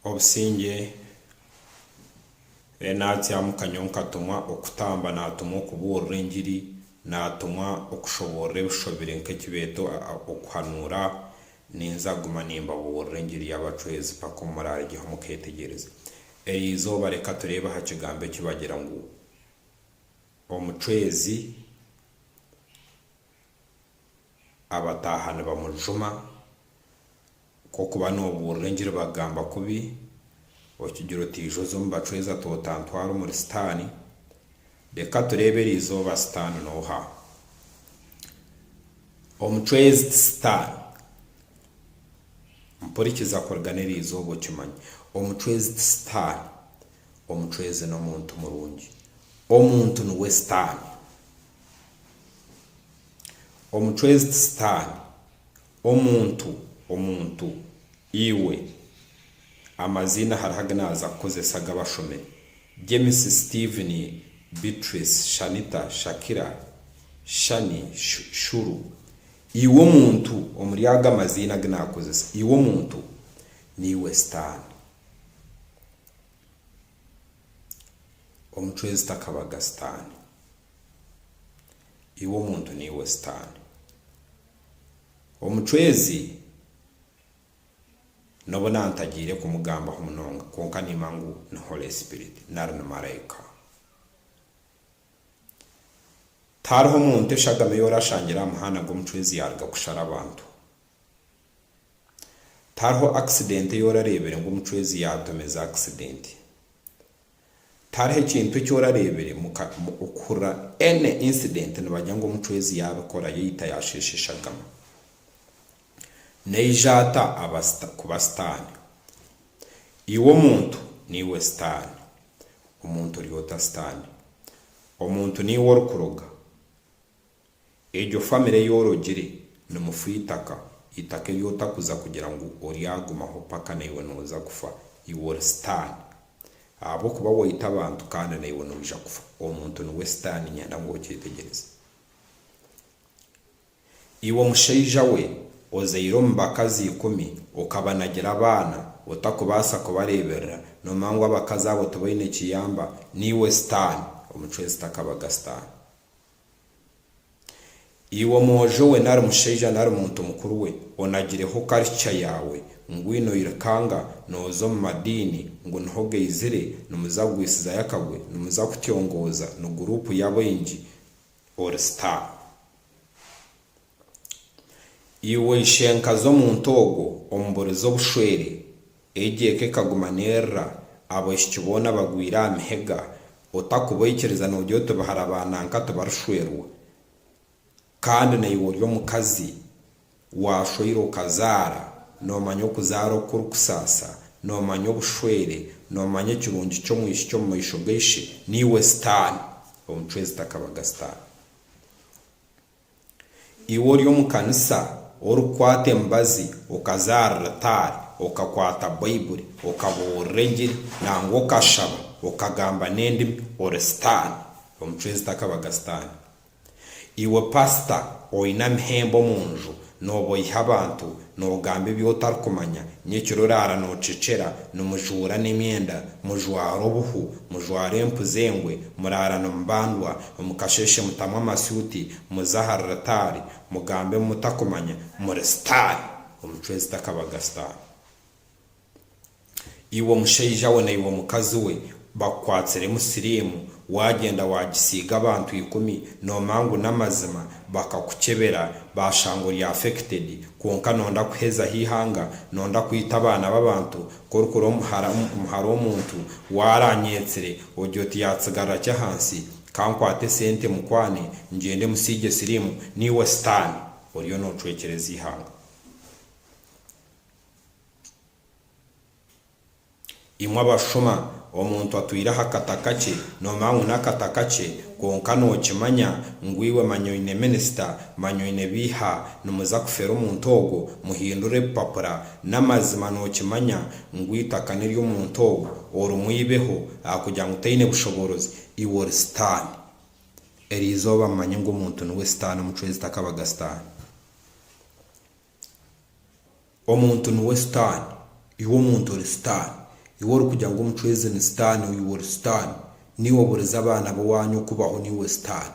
obusingye natsyamu kanywa nkatumwa okutamba natumwa okubuurira engiri natumwa okushoboorora ebishobire nkekibeeto okuhanuura ninza guma nimbabuurira engiri yabacweezi paka obu muraaregyeho mukeetegyereza eriizooba reka tureebe aha kigambo ekibagira ngu omucweezi abataaha nibamujuma Nk'oku ba noobuurira engiri bakugamba kubi, okigira oti aija oza omu bacwezi ta otantwara omuri Sitaani. Reka tureebe eri izooba Sitaani n'oha. Omucwezi ti Sitaani. Mpurikiza kurigana eri izooba okimanye. Omucwezi ti Sitaani. Omucwezi n'omuntu murungi. Omuntu niwe Sitaani. Omucwezi ti Sitaani. Omuntu, omuntu, iwe. Amaziina hariho agu naaza kukozesa agu abashome, James, Steven, Beatrice, Shanita, Shakira, Shani, Shuru. Iwe omuntu, omuri ago amaziina agu naakozesa, iwe omuntu, niiwe Sitaane. Omucwezi takabaga Sitaane. Iwe omuntu niiwe Sitaane. Omucwezi n'obu naantagiire kumugambaho munonga, kwonka niimanya ngu ni Holy Spirit, nari ni maraika. Tihariho muntu eshagama ei oraashangire aha muhanda ngu omucwezi yaaruga kushara abantu. Tihariho akisidenti ei orareebire ngu omucwezi yaatomeza akisidenti. Tihariho ekintu eki orareebire muka okuhurira any incident nibagira ngu omucwezi yaabikora yaita yaasheesha eshagama. Naija ata aba kuba sitaani? Iwe omuntu niiwe sitaani. Omuntu ori ota sitaani? Omuntu niiwe orikuroga? Egyo family ei orogire ni mufu itaka, itaka ei otakuza kugira ngu oryagumaho paka naiwe noza kufa, iwe ori sitaani ahabwokuba waita abantu kandi naiwe noija kufa, omuntu niwe sitaani nyenda ngu okyetegyereze. Iwe mushaija we ozaire omu bakazi ikumi okabanagira abaana otakubaasa kubareeberera noomanya ngu abakazi abo tibaine kiyamba, niiwe sitaani omucwezi takabaga sitaani. Iwe omwojo we nari mushaija nari muntu mukuru we, onagireho culture yaawe, mbwenu oirukanga nooza omu madiini ngu niho gaizire, nimuza kugwisizayo akagwe, nimuza kutyongooza, ni guruupu y'abaingi, ori star. Iwe ishenkazi omuntu ogwo omuburize obushwere, egyo eka ekaguma nerira, abahiki boona bagwire aha mihega, otakubaikiriza nogira oti bahara ba nanka tibarishwerwa. Kandi naiwe ori omukazi, washweire okazaara, nomanya okuzaara oku kurikusaasa, nomanya obushwere, nomanya ekirungi ky'omwishiki omu maisho ga ishe, naiwe sitaani, omucwezi takabaga sitaani. Iwe ori omu kanisa, orikukwata emibazi, okazaarira itaari, okakwata Baibuli, okabuurira engiri, nangwa okashaba, okagamba n'endimi, ori sitaane. Omucwezi takabaga sitaane. Iwe pasita oine amahembe omu nju, Nooba oiha abantu, noogamba ebi otarikumanya, nyekiro oraara noocekyera, nimujuura n'emyenda, mujwara obuhu, mujwara empu z'engwe, muraara nimubandwa, omu kasheeshe mutamu amasuuti, muza aha ruritaari, mugambe ebi mutakumanya, muri sitaani! Omucwezi takabaga sitaani. iwe mushaija we na iwe mukazi we bakukwatsiremu siriimu, waagyenda waagisiiga abantu ikumi noomanya ngu n'amazima, bakakukyebera baashanga ori affected kwonka noonda kuhezaho eihanga, noonda kwita abaana b'abantu, ku orikura omu hara omuntu waaranyeetsire ogye oti yaatsigarira ki ahansi? Ka nkwate esente mukwane ngyende musiigye siriimu. Naiwe sitaani, oriyo noocwekyereza eihanga. Imwe abashushuma, omuntu atwire aha kata kakye, nomanya ngu n'akata kakye, kwonka nokimanya ngu iwe manya oine minisita, manya oine ebiiha, nimuza kufera omuntu ogwo, muhindure ebipapura, n'amazima nokimanya ngu eitaka nery'omuntu ogwo, orimu eibeho ahakugira ngu taine bushoboorozi, iwe ori sitaani. Erizooba mumanye ngu omuntu niwe sitaani, omucwezi takabaga sitaani. Omuntu niwe sitaani, iwe omuntu ori sitaani, iwe orikugira ngu omucwezi ni sitaani ou iwe ori sitaani, naiwe oburiza abaana b'owaanyu okubaho naiwe sitaani.